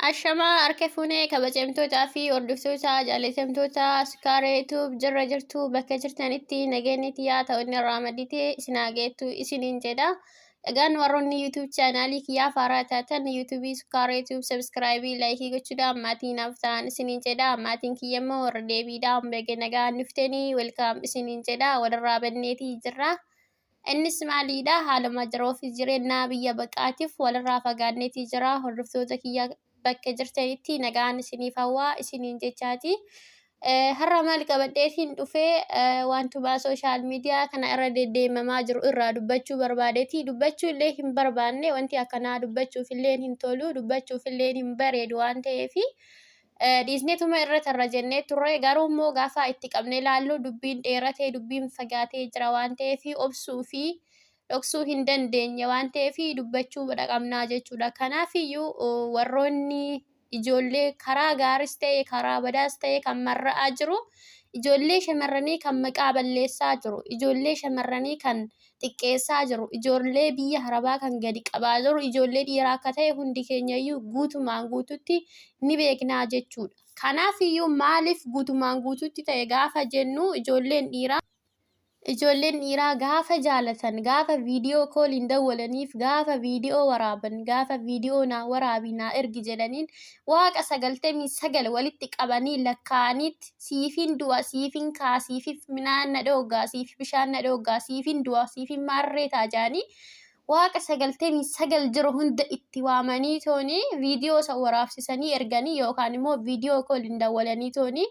Ashamaa harka fuunee kabajamtootaa fi hordoftoota jaallatamtoota Sukaaree Tuub jirra jirtu bakka jirtanitti nageenyi tiyyaa ta'oonni irraa madditee isin haa geettu isiniin jedha. Dhagaan warroonni YouTube chaanaalii kiyyaa faaraa taatan YouTube Sukkaara YouTube subscribe laayikii gochuudhaan maatii naaf ta'an isiniin jedha. Maatiin kiyya immoo warra deebiidhaan baga nagaan dhuftanii welcome isiniin jedha. Walirraa banneetii jirra. Innis maaliidha haaluma jiruu fi jireenyaa biyya baqaatiif walirraa fagaanneetii jira. Hordoftoota kiyya bakka jirtanitti nagaan isiniif hawwaa isiniin jechaati. Eh, Har'a maal qabadheetiin dhufee eh, waantuma sooshaal miidiyaa kana irra deddeemamaa jiru irraa dubbachuu barbaadeeti. Dubbachuu illee hin barbaanne wanti akkanaa dubbachuuf illee hin tolu dubbachuuf illee hin bareedu waan ta'eefi. Eh, dhiisneetuma irra tarra jennee turre garuu immoo gaafa itti qabnee laallu dubbiin dheeratee dubbiin fagaatee jira waan ta'eef obsuu fi dhoksuu hin dandeenye waan ta'eef dubbachuu dhaqabnaa jechuudha. Kanaaf iyyuu warroonni ijoollee karaa gaaris ta'e karaa badaas ta'e kan marra'aa jiru ijoollee shamarranii kan maqaa balleessaa jiru ijoollee shamarranii kan xiqqeessaa jiru ijoollee biyya harabaa kan gadi qabaa jiru ijoollee dhiiraa akka ta'e hundi keenya iyyuu guutumaan guututti ni beeknaa jechuudha. Kanaaf iyyuu maaliif guutumaan guututti ta'e gaafa jennu ijoolleen dhiiraa Ijoolleen dhiiraa gaafa jaalatan, gaafa viidiyoo kooliin dawwalaniif, gaafa viidiyoo waraaban, gaafa viidiyoo naa waraabi naa ergi jedhaniin waaqa sagaltamii sagal walitti qabanii lakkaa'aniitti siifin du'a, siifin ka'a, siifif midhaan na dhooggaa, siif bishaan na dhooggaa, siifin du'a, siifin maarree ta'a jedhanii Waaqa 99 jiru hunda itti waamanii tooni viidiyoo isa waraabsisanii erganii yookaan immoo viidiyoo kooliin dawwalanii tooni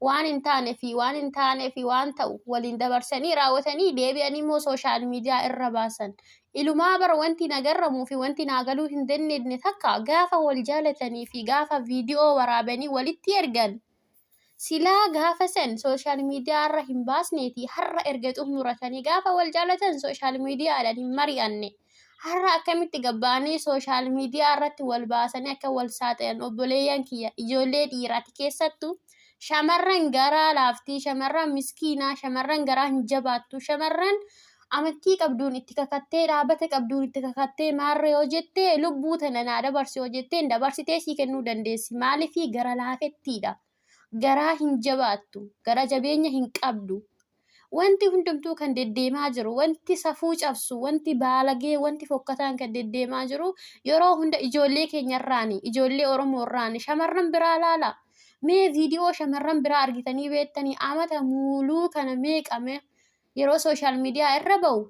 waan hin taane fi waan hin taane fi waan ta'u waliin dabarsanii raawwatanii deebi'anii immoo sooshaal miidiyaa irra baasan. Ilumaa bara wanti nagarramuu fi wanti naagaluu hin dandeenye takka gaafa wal jaalatanii fi gaafa viidiyoo waraabanii walitti ergan Silaa gaafa san sooshaal miidiyaa irra hin baasneeti har'a erga xumuratanii gaafa wal jaalatan sooshaal miidiyaadhaan hin mari'anne. Har'a akkamitti gabbaanii sooshaal miidiyaa irratti wal baasanii akka wal saaxilan obboleeyyan kiyya ijoollee dhiiraati keessattu shamarran garaa laaftii shamarran miskiinaa shamarran garaa hin jabaattu shamarran amantii qabduun itti kakattee dhaabata qabduun itti kakattee maarra yoo jette lubbuu tana naa dabarsi yoo jetteen dabarsitee sii kennuu dandeessi maaliifii gara laafettiidha garaa hin jabaattu gara jabeenya hin qabdu wanti hundumtuu kan deddeemaa jiru wanti safuu cabsu wanti baalagee wanti fokkataan kan deddeemaa jiru yeroo hunda ijoollee keenyarraani ijoollee oromoorraani shamarran biraa laala mee viidiyoo shamarran biraa argitanii beektanii amata muuluu kana meeqame yeroo sooshaal miidiyaa irra ba'u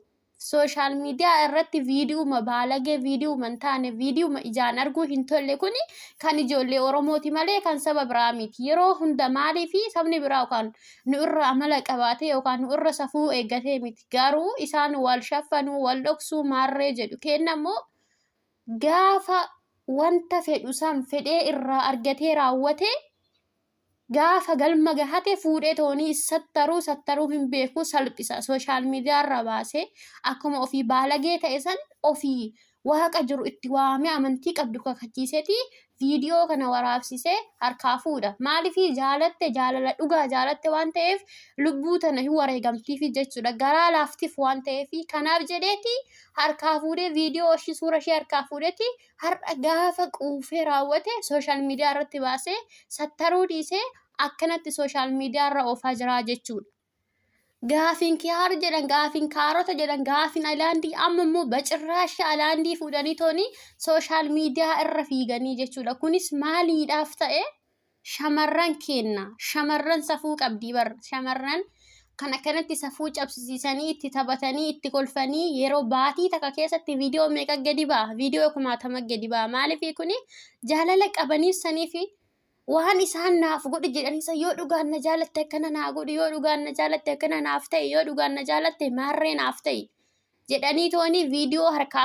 sooshaal miidiyaa irratti viidiyuma baalagee viidiyuma hin taane viidiyuma ijaan arguu hin tolle kuni kan ijoollee Oromooti malee kan saba biraa miti. Yeroo hunda maalii fi sabni biraa yookaan nu irra amala qabaatee yookaan nu irra safuu eeggatee miti. Garuu isaan wal shaffanuu wal dhoksuu maarree jedhu keenna immoo gaafa wanta fedhu san fedhee irraa argatee raawwatee Gaafa galma gahate fuudhee toonii sattaruu sattaruu hin beeku salphisa sooshaal miidiyaa irra baasee akkuma ofii baalagee ta'e san ofii waaqa jiru itti waamee amantii qabdu kakachiisetii viidiyoo kana waraabsisee harkaa fuudha. Maaliifii jaalatte jaalala dhugaa jaalatte waan ta'eef lubbuu tana hin wareegamtiifi jechuudha. Garaa laaftiif waan ta'eef kanaaf jedheeti harkaa fuudhee viidiyoo ishii suura ishee harkaa fuudheeti har'a gaafa quufee raawwate sooshaal miidiyaa irratti baasee sattaruu dhiisee akkanatti sooshaal miidiyaa irra oofaa jira jechuudha. Gaafiin kiyaar jedhan, gaafiin kaarota jedhan, gaafiin alaandii amma immoo bacirraashii alaandii fuudhanii tooni sooshaal miidiyaa irra fiiganii jechuudha. Kunis maaliidhaaf ta'e? shamarran keenna shamarran safuu qabdii bar shamarran kan akkanatti safuu cabsisiisanii itti taphatanii itti kolfanii yeroo baatii takka keessatti viidiyoo meeqa gadi ba'a viidiyoo kumaatama gadi ba'a maaliif kuni jaalala qabaniif saniif waan isaan naaf godhi jedhaniisa yoo dhugaan na jaalatte akkana naa godhi yoo dhugaan na jaalatte akkana naaf ta'e yoo dhugaan na jaalatte maarree naaf ta'e jedhanii tooni viidiyoo harkaaf